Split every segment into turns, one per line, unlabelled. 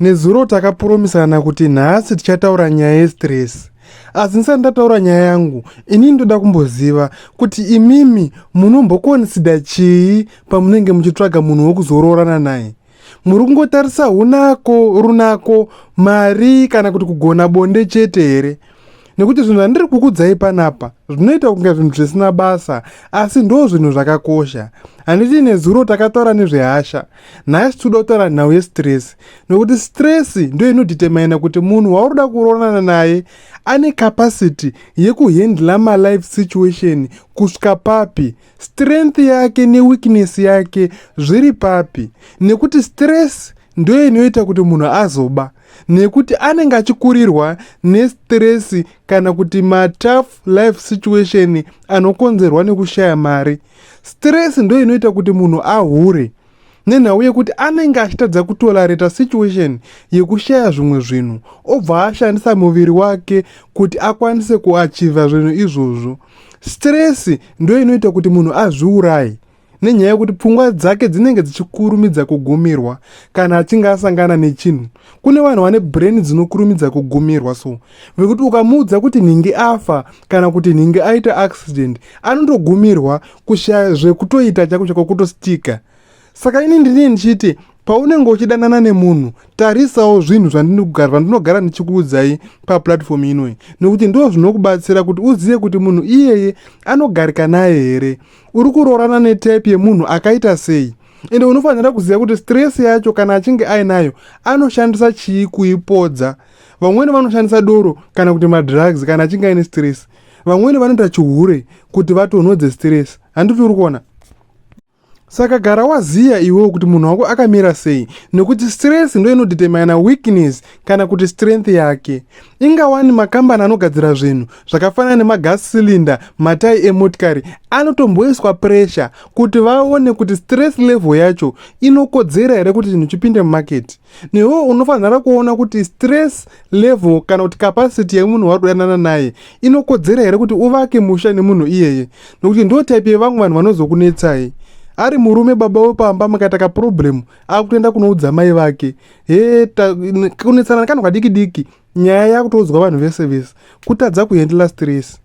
Nezuro takapuromisana kuti nhasi tichataura nyaya yestress asi ndisati ndataura nyaya yangu inini ndoda kumboziva kuti imimi munombokonisida chii pamunenge muchitsvaga munhu wokuzoroorana naye muri kungotarisa unako runako mari kana kuti kugona bonde chete here nekuti zvinhu zvandiri kukudzai panapa zvinoita kunge zvinhu zvisina basa asi ndo zvinhu zvakakosha handiti nezuro takataura nezvehasha Nhasi tinoda kutaura nhau yestress nokuti stress ndiyo inodhitemaina kuti munhu wauroda kuroorana naye ane capacity yekuhandla malife situation kusvika papi strength yake neweakness yake zviri papi nekuti stress ndiyo inoita kuti munhu azoba nekuti anenge achikurirwa nestress kana kuti matough life situation anokonzerwa nekushaya mari stress ndo inoita kuti munhu ahure nenhau yekuti anenge achitadza kutolareta situation yekushaya zvimwe zvinhu obva ashandisa muviri wake kuti akwanise kuachiva zvinhu izvozvo stress ndo inoita kuti munhu azviurayi nenyaya yekuti pfungwa dzake dzinenge dzichikurumidza kugumirwa kana achinge asangana nechinhu kune vanhu vane brain dzinokurumidza kugumirwa so vekuti ukamuudza kuti nhingi afa kana kuti nhingi aita accident anondogumirwa kushaya zvekutoita chako chako kutostika saka ini ndinee ndichiti paunenge uchidanana nemunhu tarisawo zvinhu zvandinogara ndichikuudzai paplatform inoi nekuti ndo zvinokubatsira kuti uzive kuti munhu iyeye anogarika naye here uri kuroorana netype yemunhu akaita sei ende unofanira kuziva kuti stress yacho kana achinge ainayo anoshandisa chii kuipodza vamweni vanoshandisa doro kana kuti madrugs kana achinge aine stress vamweni vanoita chihure kuti vatonhodze stress handiti uri kuona saka gara waziya iwewo kuti munhu wako akamira sei nekuti stress ndo inodetermina weakness kana kuti strength yake ingawani makambani anogadzira zvinhu zvakafanana nemagas cylinder matai emotikari anotomboiswa pressure kuti vaone kuti stress level yacho inokodzera here kuti chinhu chipinde mumaketi newe unofanira kuona kuti stress level kana kuti capacity yemunhu wari kudanana naye inokodzera here kuti uvake musha nemunhu iyeye nokuti ndo type yevamwe vanhu vanozokunetsai ari murume baba wepamba makaita kaproblem akutoenda kunoudza mai vake he kunetsana nekanhu kadiki diki nyaya yakutoudzwa vanhu vese vese kutadza kuhandla stress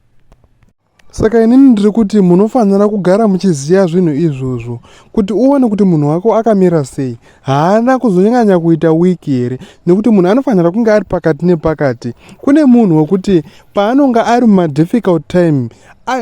Saka inini ndiri kuti munofanira kugara muchiziva zvinhu izvozvo kuti uone kuti munhu wako akamira sei. Haana kuzonyanya kuita wiki here nekuti munhu anofanira kunge ari pakati nepakati. Kune munhu wekuti paanonge ari mumadifficult time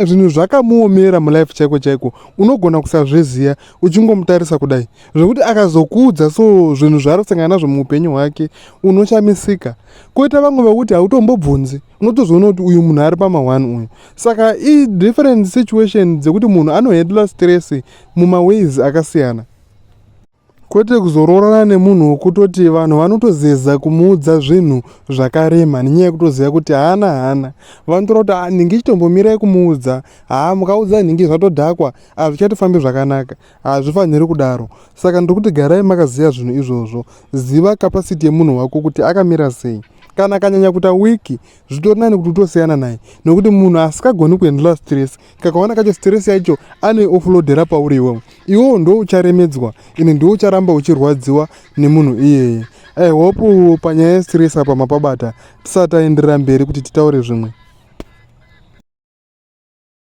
zvinhu zvakamuomera mulife chaiko chaiko unogona kusazviziva uchingomutarisa kudai zvekuti akazokuudza so zvinhu zvaari kusangana nazvo muupenyu hwake unoshamisika. Koita vamwe vekuti hautombobvunzi. unotozoona kuti uyu munhu ari pama one uyu saka i different situation dzekuti munhu anohandla stress mumaways akasiyana kwete kuzoroorana nemunhu wokutoti vanhu vanotozeza kumuudza zvinhu zvakarema nenyaya yekutoziva kuti haana haana vanotora kuti ah, nhingi chitombomirai kumuudza haa ah, mukaudza nhingi zvatodhakwa hazvichatofambi zvakanaka hazvifaniri kudaro saka ndiri kuti garai makaziva zvinhu izvozvo ziva kapasiti yemunhu wako kuti akamira sei kana akanyanya kuita wiki zvitori nani kuti utosiyana naye nokuti munhu asikagoni kuendela stress kakawana kacho stress yacho anoioflodera pauri iwewo iwewo ndo ucharemedzwa ini ndiwo ucharamba uchirwadziwa nemunhu iyeye i hope panyaya yestress apa mapabata tisati aenderera mberi kuti titaure zvimwe